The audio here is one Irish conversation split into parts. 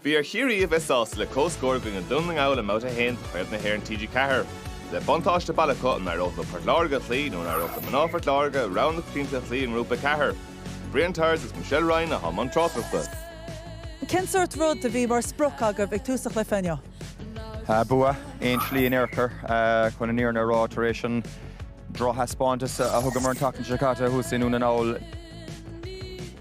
Bhí ar Chiarraí a bheith sásta le comhscór i gcoinne Dhún na nGall i mBabhta 1 de Chraobh na hÉireann TG4. Le buntáiste baile acu, an éireodh leo Port Láirge a chloí nó an éireodh le mná Phort Láirge rogha na coitianta a chloí i nGrúpa 4? Brian Tyers agus Michelle Ryan le ham an tráchtaireachta. Cén sórt rud a bhí mar sprioc agat ag tús an chluiche inniu? Bua aon slí in aon chor chun an fhírinne a rá tar éis an drochthaispeántas a thugamar an tseachtain seo caite thuas i nDún na nGall.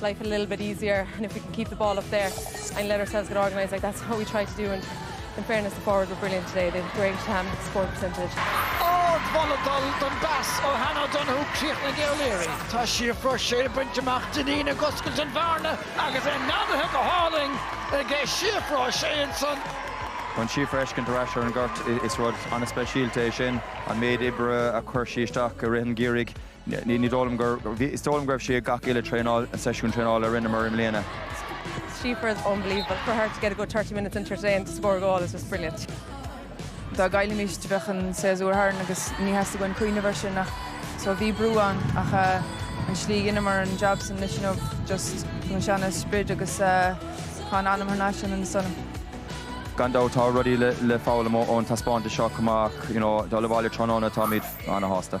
life a little bit easier and if we can keep the ball up there and let ourselves get organised like that, that's what we tried to do and in fairness the forwards were brilliant today, they had great score percentage. Ó balla d'áil den phas ó Hannah O'Donoghue críochnaíonn Ní Laoire. Tá Síofra Sé ag baint amach Dineen ag oscailt an bhearna agus é aimsithe go hálainn ag Síofra Sé ansan. Chun Síofra a fheiscint ar ais ar an ngort, is rud an-speisialta é sin an méid oibre a chuir sí isteach i rith an gheimhridh Is dóigh liom go raibh sí ag gach uile traenáil, seisiún traenála a rinneamar i mbliana. Síofra is unbelievable, for her to get a good thirty minutes in today and to score a goal is just brilliant. Dá gcaillfimis do bheadh an séasúr tharainn agus níor theastaigh uainn cuimhneamh air sin ach so bhí brú ann ach an slí a rinneamar an jab ansan inniu just an seana sprid agus tá an anam thar n-ais ionainn san. Gan dabht tá rudaí le foghlaim ón taispeántas seo chomh maith ach you know dul abhaile tráthnóna táimid ana shásta.